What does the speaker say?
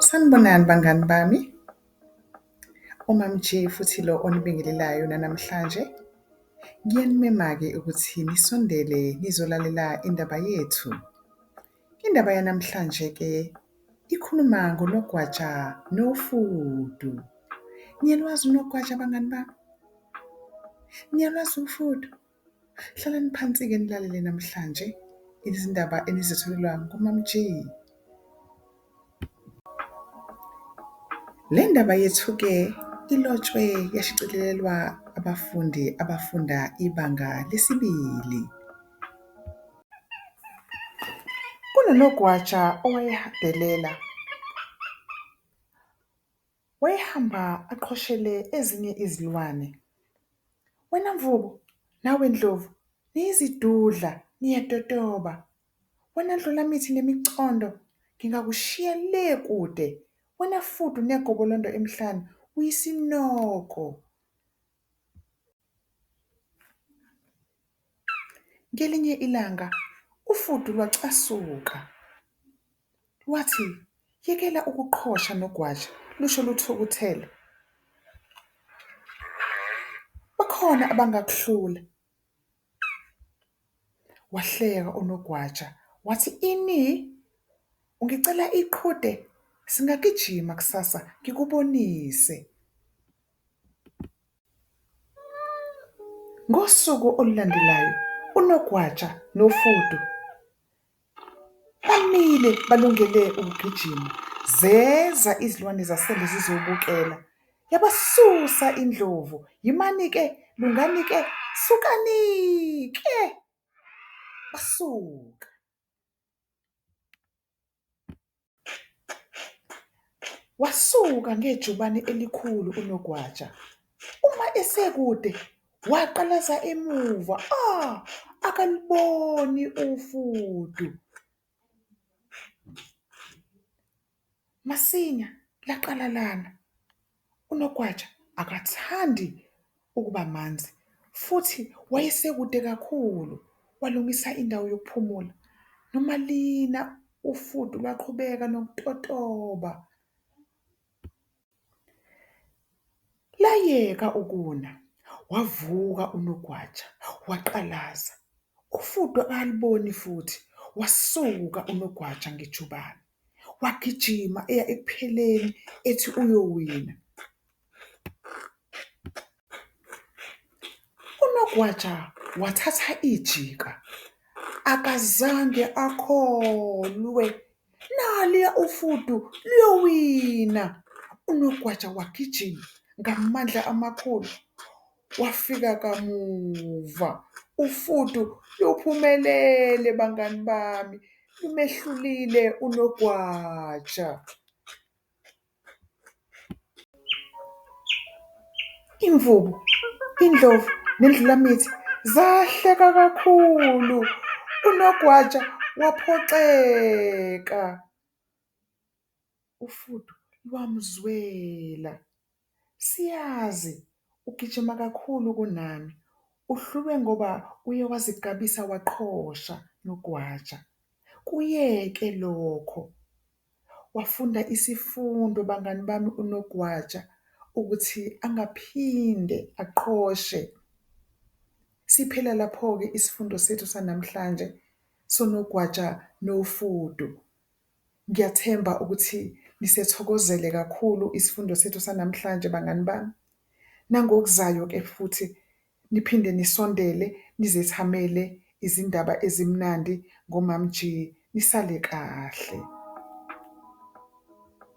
Sanibonani bangani bami, uMaMJ futhi lo onibingelelayo nanamhlanje. Ngiyanimema-ke ukuthi nisondele nizolalela indaba yethu. Indaba yanamhlanje-ke ikhuluma ngonogwaja nofudu. Niyalwazi unogwaja bangani bami? Niyalwazi ufudu? Hlalani phansi-ke nilalele namhlanje izindaba enizitholelwa kuMaMG. Le ndaba yethu-ke ilotshwe yashicilelwa abafundi abafunda ibanga lesibili. Kunonogwaja owayehadelela. Wayehamba aqhoshele ezinye izilwane. Wena mvubu, nawe ndlovu, niyizidudla, niyatotoba. Wena ndlulamithi nemicondo, ngingakushiya le kude. Wena fudu negobolondo emhlane, uyisinoko. Ngelinye ilanga ufudu lwacasuka. Wathi, Yekela ukuqhosha nogwaja, lusho luthukuthele. Bakhona abangakuhlula. Wahleka unogwaja, wathi, Ini? Ungicela iqhude? Singagijima kusasa ngikubonise. Ngosuku olulandelayo, unogwaja nofudu Bamile balungele ukugijima, zeza izilwane zasendle zizobukela. Yabasusa indlovu, yimani-ke, lungani-ke, sukani-ke! Basuka. Wasuka ngejubane elikhulu uNogwaja. Uma esekude, waqalaza emuva, ah! Akaluboni ufudu. Masinya, laqalalana. UNokwatsha akathandi ukuba manzi futhi wayesekude kakhulu walungisa indawo yokuphumula. Noma lina ufudu lwaqhubeka nokutotoba, layeka ukuna. Wavuka uNogwaja waqalaza. Ufudu akaliboni futhi wasuka uNogwaja ngejubane. wagijima eya ekupheleni ethi uyowina. UNogwaja wathatha ijika, akazange akholwe, naliya ufudu luyowina. UNogwaja wagijima ngamandla amakhulu. Wafika kamuva. Ufudu luphumelele bangani bami. Lumehlulile unogwaja. Imvubu, indlovu nendlulamithi zahleka kakhulu. Unogwaja waphoxeka. ufudu lwamzwela. Siyazi ugijima kakhulu kunami, uhlulwe ngoba uye wazigabisa waqhosha nogwaja. Kuyeke lokho. Wafunda isifundo bangani bami unogwaja ukuthi angaphinde aqhoshe. Siphela lapho-ke isifundo sethu sanamhlanje sonogwaja nofudu. Ngiyathemba ukuthi nisethokozele kakhulu isifundo sethu sanamhlanje bangani bami. Nangokuzayo ke futhi niphinde nisondele nizethamele izindaba ezimnandi ngoMamG. Nisale kahle.